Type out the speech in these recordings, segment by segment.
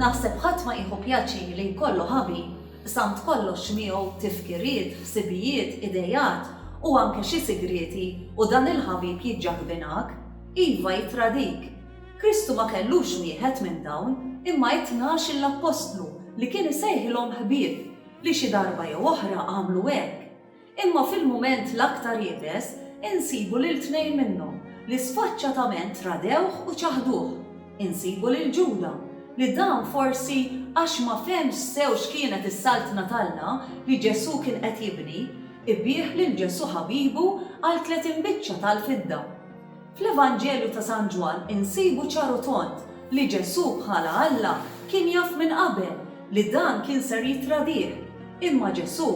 Naħseb ħadd ma jieħu pjaċir li jkollu ħabi, samt kollox miegħu tifkiriet, ħsibijiet, ideat u anke xi sigrieti u dan il-ħabib jiġġaħbinak, iva jittradik. Kristu ma kellux wieħed minn dawn imma it-tnax-il appostlu li kien isejħilhom ħbieb li xi darba jew oħra għamlu hekk. Imma fil-mument l-aktar iebes, insibu lil tnejn minnhom, li sfaċċatament tradewh u ċaħduh. Insibu lil Ġuda, li dan forsi għax ma fehmx sew x'kienet is-Saltna t'Alla li Ġesù kien qed jibni, ibiegħ lil Ġesù ħabibu għal tletin biċċa tal-fidda. Fl-Evanġelju ta' San Ġwann insibu ċar u tond li Ġesù bħala Alla kien jaf minn qabel li dan kien ser jittradih. Imma Ġesù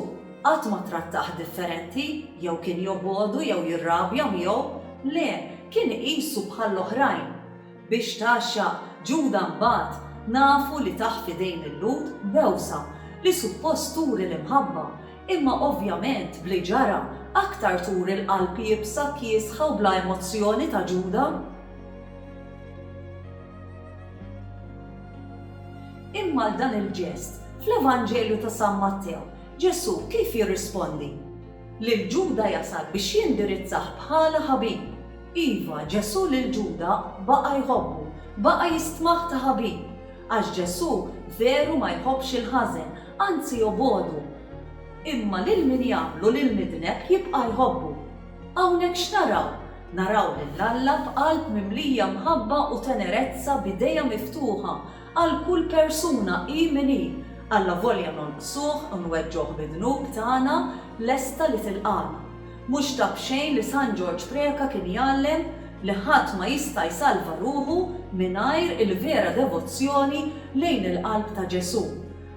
qatt ma trattah differenti jew kien jobogħdu jew jirrabja miegħu. Le, kien iqisu bħall-oħrajn. Biex tgħaxxaq Ġuda mbagħad nafu li tah f'idejn il-Lhud bewsa li suppost turi l-imħabba Imma ovvjament b'li ġara, aktar turi l-qalb iebsa, kiesħa u bla emozzjoni ta' Ġuda. Imma għal dan il-ġest, fl-Evanġelju ta' San Mattew, Ġesù kif jirrispondi? Lil Ġuda jasal biex jindirizzah bħala ħabib. Iva, Ġesù lil Ġuda baqa' jħobbu, baqa' jistmah ta' ħabib. Għax Ġesù veru ma jħobbx il-ħażen, Anzi jobogħdu. Imma lil min jagħmlu lill-midneb jibqa' jħobbu. Hawnhekk x'naraw? Naraw lil Alla b'qalb mimlija mħabba u tenerezza b'idejha miftuħa għal kull persuna hi min hi, allavolja nonqsuh u nweġġgħuh bid-dnub tagħna, lesta li tilqagħna. Mhux ta' b'xejn li San Ġorġ Preca kien jgħallem li ħadd ma jista' jsalva ruħu mingħajr il-vera devozzjoni lejn il-qalb ta' Ġesù.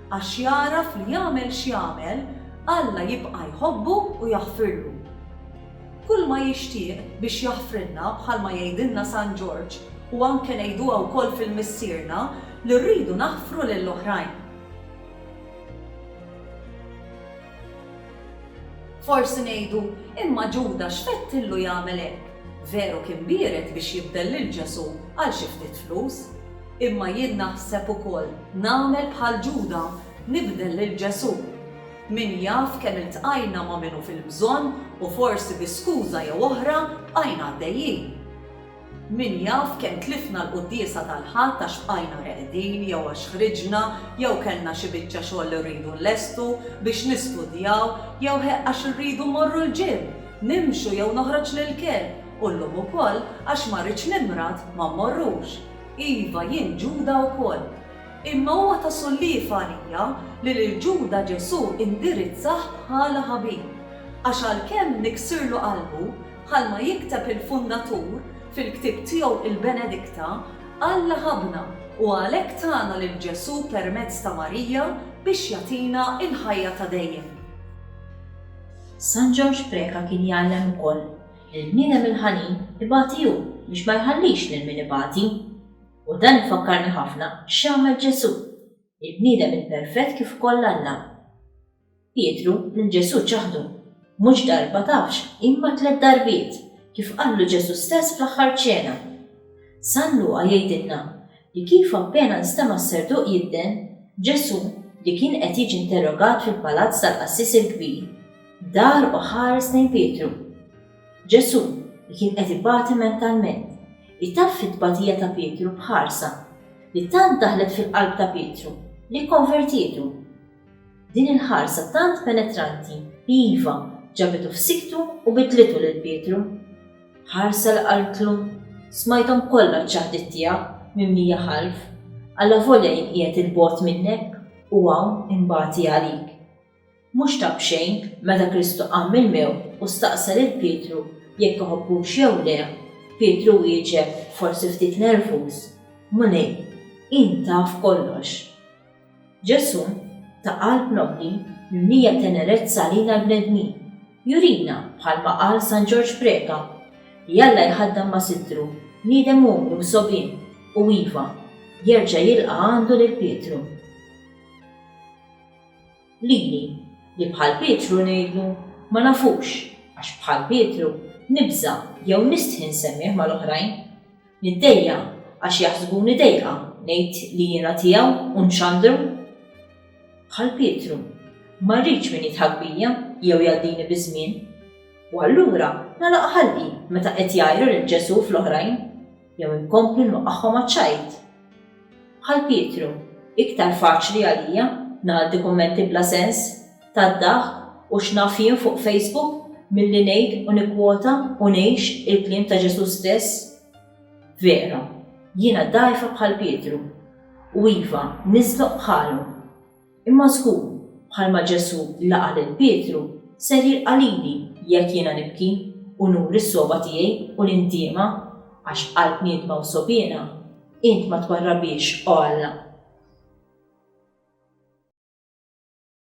Għax jagħraf li jagħmel x'jagħmel, Alla jibqa' jħobbu u jaħfirlu. Kulma jixtieq biex jaħfrilna bħalma jgħidilna San Ġorġ u anke ngħiduha wkoll fil-Missierna li rridu naħfru lill-oħrajn. Forsi ngħidu, Imma Ġuda x'fettillu jagħmel hekk? Veru kien biered biex jibdel lil Ġesù għal xi ftit flus. Imma jien naħseb ukoll nagħmel bħal Ġuda, nibdel lil Ġesù. Min jaf kemm iltqajna ma' min hu fil-bżonn u forsi bi skuża jew oħra bqajna għaddejjin. Min jaf kemm tlifna l-Quddiesa tal-Ħadd għax bqajna reqdin jew għax ħriġna jew kellna xi biċċa xogħol li rridu nlestu biex nistudjaw jew he għax irridu mmorru l-gym, nimxu jew noħroġ lill-kelb u llum ukoll għax ma rridx nimrad ma mmorrux. Iva jien Ġuda wkoll. Imma huwa ta' solliev għalija li lil Ġuda Ġesù indirizzah bħala ħabib. Għax għalkemm niksirlu qalbu, Bħalma jikteb il-Fundatur fil-ktieb tiegħu il-Benedikta, Alla ħabbna u għalhekk tana lil Ġesù permezz ta' Marija biex jagħtina l-ħajja ta' dejjem. San Ġorġ Preca kien jgħallem ukoll li l-bniedem il-ħanin ibati hu biex ma jħallix lil min ibati. U dan ifakkarni ħafna x'għamel Ġesù, il-bniedem il-perfett kif ukoll Alla. Pietru lil Ġesù ċaħdu, mhux darba tafx imma tliet darbiet, kif qallu Ġesù stess fl-aħħar ċena. San Luqa jgħidilna li kif appena nstema' s-serduq jidden, Ġesù, li kien qed jiġi interrogat fil-palazz tal-qassis il-kbir, dar u ħares lejn Pietru. Ġesù, li kien qed ibati mentalment, itaffi t-tbatija ta' Pietru b'ħarsa li tant daħlet fil-qalb ta' Pietru li kkonvertietu. Din il-ħarsa tant penetranti, iva, ġabitu f'siktu u bidlitu lil Pietru. Ħarsa li qaltlu, Smajthom kollha ċ-ċaħdiet tiegħek, mimlija ħalf. Allavolja jien qiegħed 'il bogħod minnek, u hawn inbati għalik. Mhux ta' b'xejn, meta Kristu qam mill-mewt u staqsa lil Pietru jekk iħobbux jew le, Pietru wieġeb, forsi ftit nervuż, Mulej, int taf kollox. Ġesù, ta' qalb nobbli, mimlija tenerezza għalina l-bnedmin, jurina, bħalma qal San Ġorġ Preca, li Alla jħaddan ma' sittru bniedem umli u sogħbien u, iva, jerġa' jilqa' għandu lil Pietru. Lili, li bħal Pietru ngħidlu, Ma nafux, għax bħal Pietru, nibża' jew nistħi nsemmih mal-oħrajn. Niddejja' għax jaħsbuni dejqa, ngħid li jiena tiegħu u nxandru? Bħal Pietru, ma rridx min jidħak bija jew jgħaddini biż-żmien. U allura nagħlaq ħalqi meta qed jgħajru lil Ġesù fl-oħrajn, jew inkompli nwaqqagħhom għaċ-ċajt? Bħal Pietru, iktar faċli għalija ngħaddi kummenti bla sens. tad-daħk u x'naf jien fuq Facebook milli ngħid u nikkwota u ngħix il-kliem ta' Ġesù stess? Vera, jiena dgħajfa bħal Pietru, u iva, niżloq bħalu. Imma żgur, bħalma Ġesù laqa' lil Pietru, ser jilqa' lili jekk jiena nibki u nuri s-sogħba tiegħi u l-indiema, għax qalb niedma u sogħbiena int ma twarrabhiex, o Alla.